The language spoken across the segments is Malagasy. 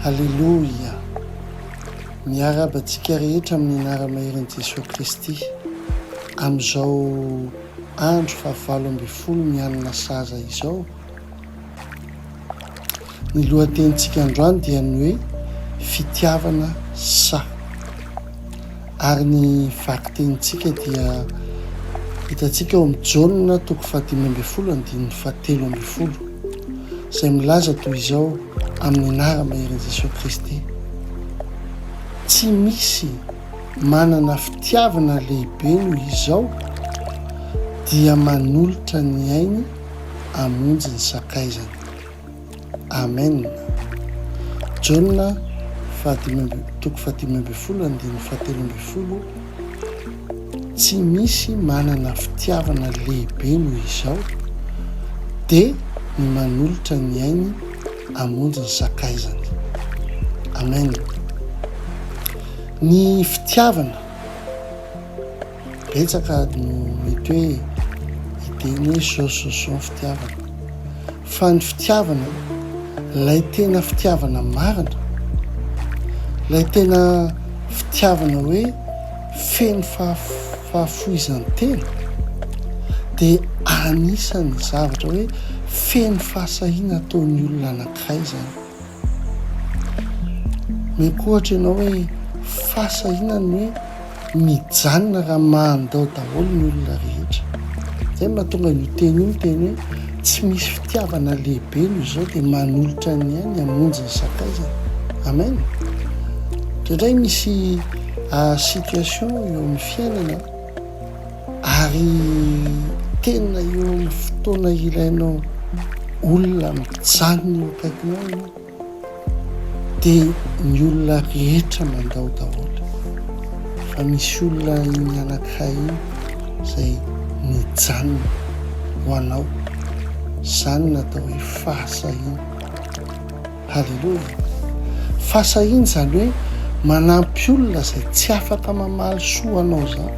Aleloia! Miarahaba antsika rehetra amin'ny anara-maherin'i Jesoa Kristy, amin'izao andro fahavalo ambin'ny folo ny alina sahaza izao. Ny lohatenintsika androany dia ny hoe Fitiavana sa. Ary ny vakitenintsika dia hitantsika ao amin'ny Jaona toko fahadimy ambin'ny folo andininy fahatelo ambin'ny folo, izay milaza toy izao amin'ny anara-maherin'i Jesoa Kristy, Tsy misy manana fitiavana lehibe noho izao dia manolotra ny ainy hamonjy ny sakaizany. Amen. Jaona fahadimy amby, toko fahadimy ambin'ny folo andininy fahatelo ambin'ny folo, Tsy misy manana fitiavana lehibe noho izao, dia ny manolotra ny ainy hamonjy ny sakaizany. Amen. Ny fitiavana Betsaka no mety hoe hiteny hoe sososon fitiavana. Fa ny fitiavana, ilay tena fitiavana marina, ilay tena fitiavana hoe feno fahafoizan-tena, dia anisan'ny zavatra hoe feno fahasahiana ataon'ny olona anankiray izany. Meko ohatra ianao hoe fasa inona ny hoe mijanona raha mandao daholo ny olona rehetra. Izay no mahatonga an'io teny io ny teny hoe tsy misy fitiavana lehibe no izao dia manolotra ny ainy hamonjy ny sakaizany. Amen. Indraindray misy ah, situation eo amin'ny fiainana Ary tena eo amin'ny fotoana ilainao olona mijanona eo akaikinao ianao dia ny olona rehetra mandao daholo fa misy olona iny anankiray iny izay nijanona ho anao izany natao hoe fahasahiana Haleloia! Fa sahiny izany hoe manampy olona izay tsy afaka mamaly soa anao izany.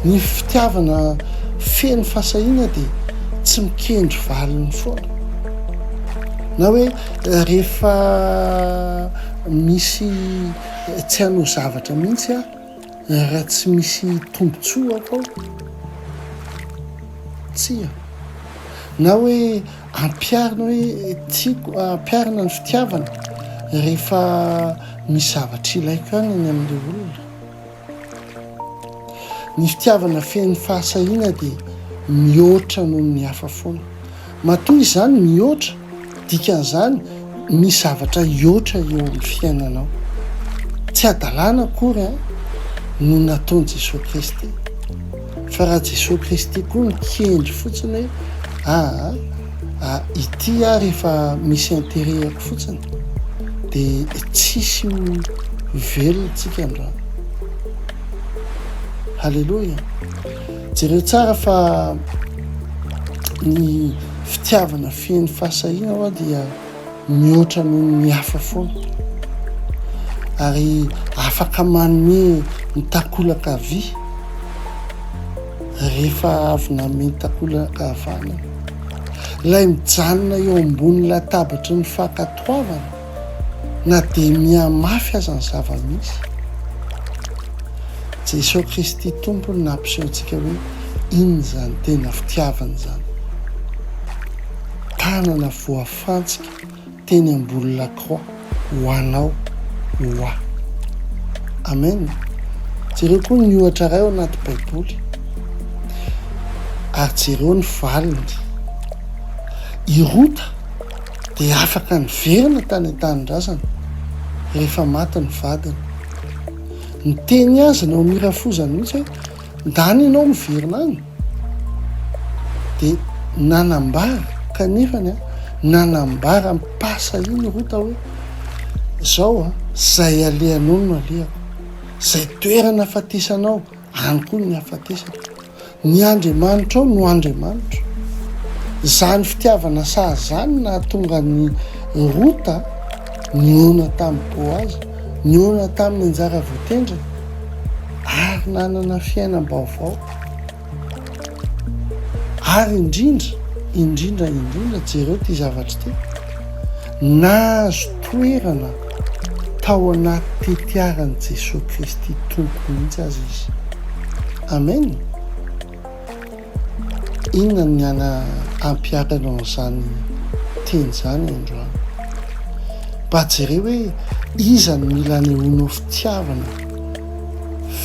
Ny fitiavana feno fahasahiana dia tsy mikendry valiny foana. Na hoe rehefa misy tsy hanao zavatra mihitsy aho, Raha tsy misy tombontsoa ao ao, tsia. Na hoe ampiharina hoe tiako, ampiharina ny fitiavana rehefa misy zavatra ilaiko ihany ny amin'ilay olona. Ny fitiavana feno fahasahiana dia mihoatra noho ny hafa foana. Matoa izany mihoatra, dikan'izany misy zavatra hihoatra eo amin'ny fiainanao. Tsy hadalana akory no nataon'i Jesoa Kristy. Fa raha Jesoa Kristy koa mikendry fotsiny hoe aa a ity ary efa misy interet-ako fotsiny dia tsisy ho velona tsika androany. Haleloia. Jereo tsara fa ny fitiavana feno fahasahiana hoa dia mihoatra noho ny hafa foana ary afaka manome ny takolaka havia rehefa avy nanome ny takolaka havanana. Ilay mijanona eo ambony latabatry ny fankatoavana. Na dia mihamafy aza ny zava-misy, Jesoa Kristy Tompo no nampiseho antsika hoe inona izany tena fitiavana izany. Tanana voafantsika teny ambony lakroa ho anao, ho ahy. Amen. Jereo koa ny ohatra iray ao anaty Baiboly, ary jereo ny valiny. I Rota, dia afaka niverina tany an-tanindrazana rehefa maty ny vadiny. Niteny azy ny ao amin'ny hira foza mihitsy hoe, Ndany ianao miverina any? Dia nanambara, kanefany, nanambara am-pasa iny Rota hoe, Izao, izay alehanao no alehako, izay toerana fatesanao Any koa ny hafatesako. Ny Andriamanitrao no Andriamanitro. Izany fitiavana sazy izany nahatonga an'i Rota nihaona tamin'i Boaza, nihaona tamin'ny anjara voatendriny, ary nanana fiainam-baovao. Ary indrindra indrindra indrindra, jereo ity zavatra ity, nahazo toerana tao anaty tetiaran'i Jesoa Kristy Tompo mihitsy aza izy. Amen! Inona ny hana hampiharana an'izany teny izany androany? Mba jereo hoe iza no mila anehoanao fitiavana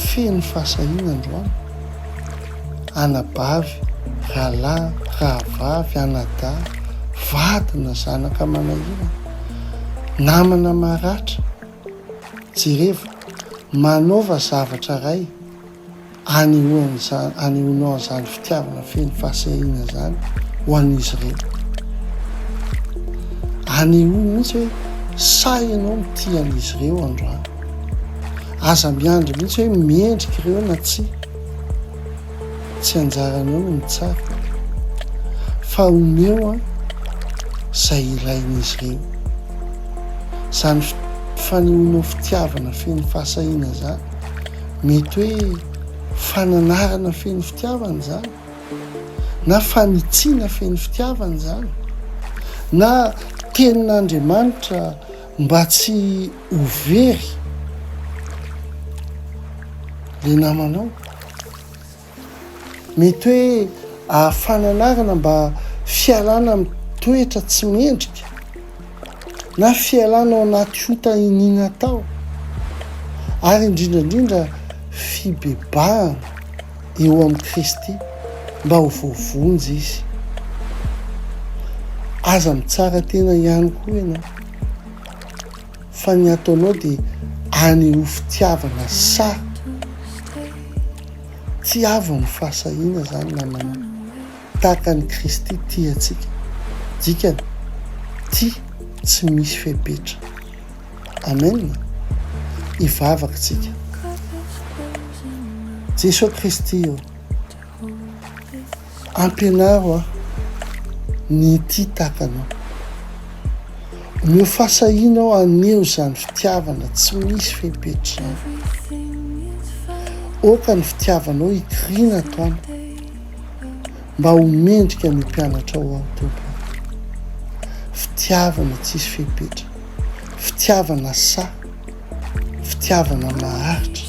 feno fahasahiana androany? anabavy, rahalahy, rahavavy, anadahy, vady na zanaka manahirana, namana maratra. Jerevo, manaova zavatra iray anehoanao an'izany fitiavana feno fahasahiana izany ho an'izy ireo. Anehoy mihitsy hoe sahy ianao mitia an'izy ireo androany. Aza miandry mihitsy hoe mendrika ireo na tsia. Tsy anjaranao ny mitsara fa omeo an izay ilain'izy ireo. Izany fanehoanao fitiavana feno fahasahiana izany mety hoe fananarana feno fitiavana izany na fanitsiana feno fitiavana izany na tenin'Andriamanitra mba tsy Ho very le namanao. Mety hoe ahafana anarana mba fialana amin'ny toetra tsy mendrika na fialana ao anaty ota iniana tao ary indrindra indrindra fibebahana eo amin'i Kristy mba ho voavonjy izy. Aza mitsara tena ihany koa ianao. fa ny ataonao dia any ho fitiavana sa tsy avy ny fahasahiana zany namana tahaka ny kristy tia antsika dikany tia tsy misy fepetra amen hivavaka tsika jeso kristy ô Ampianaro aho ny hitia tahaka anao. Omeo fahasahiana aho haneho izany fitiavana tsy misy fepetra izany. Aoka ny fitiavanao hikiriana ato amiko, mba ho mendrika ny ho mpianatrao aho, Tompo ô. Fitiavana tsisy fepetra, fitiavana sahy. Fitiavana maharitra.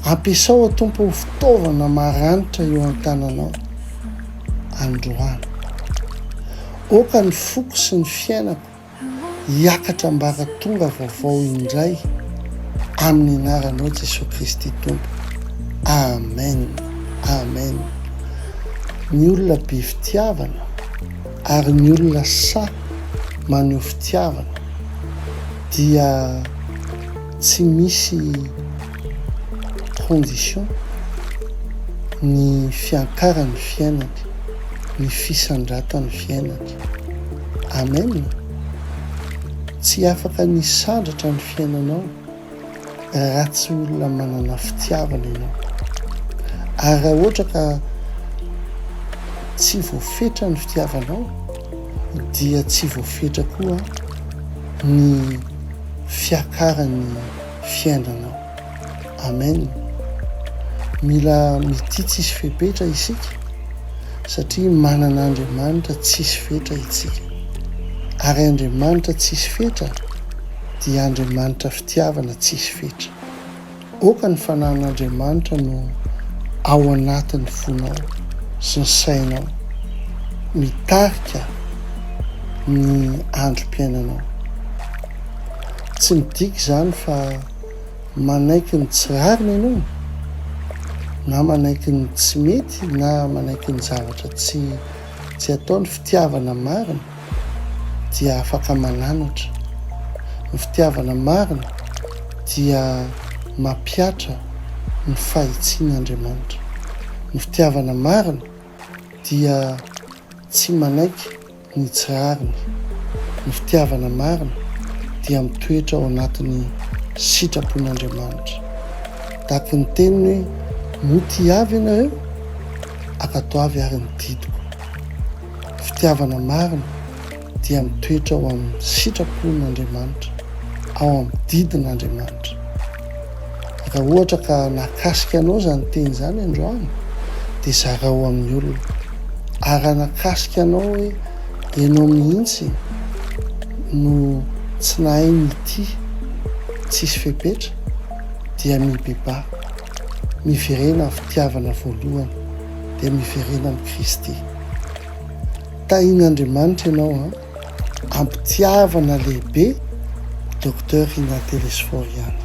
Ampiasao, O Tompo, ho fitaovana maranitra eo an-tananao androany. Aoka ny foko sy ny fiainako hiakatra ambaratonga vaovao indray, amin'ny anaranao Jesoa Kristy Tompo. Amen. Amen. Ny olona be fitiavana ary ny olona sahy maneho fitiavana. dia tsy misy condition ny fiankaran'ny fiainako, ny fisandratan'ny fiainako. Amen! Tsy afaka ny hisandratra ny fiainanao. raha tsy olona manana fitiavana ianao. Ary raha ohatra ka tsy voafetra ny fitiavanao dia tsy voafetra koa ny fiakaran'ny fiainanao. Amen. Mila mitia tsisy fepetra isika satria manana Andriamanitra tsisy fetra itsika. Ary Andriamanitra tsisy fetra. dia Andriamanitra fitiavana tsisy fetra. Aoka ny fanahin'Andriamanitra no ao anatin'ny fonao sy ny sainao mitarika ny androm-piainanao. Tsy midika izany fa manaiky ny tsy rariny ianao na manaiky ny tsy mety na manaiky ny zavatra tsy tsy atao ny fitiavana marina. dia afaka mananatra. Ny fitiavana marina dia mampihatra ny fahitsian' Andriamanitra. Ny fitiavana marina dia tsy manaiky ny tsy rariny. Ny fitiavana marina dia mitoetra ao anatin'ny sitrapon' Andriamanitra. Dac ny teniny hoe, Motia avy ianareo? Akatoavy ary ny didiko. fitiavana marina dia mitoetra ao amin'ny sitrapon' Andriamanitra, ao amin'ny didin' Andriamanitra. Raha ohatra ka nahakasika anao izany teny izany androany dia zarao amin'ny olona. Ary raha nahakasika anao hoe ianao mihitsy no tsy nahay nitia tsisy fepetra dia mibebaha. Miverena amin'ny fitiavana voalohany dia miverena amin'i Kristy. Tahin'Andriamanitra ianao an! Am-pitiavana lehibe Docteur Rinah Telesforo ihany.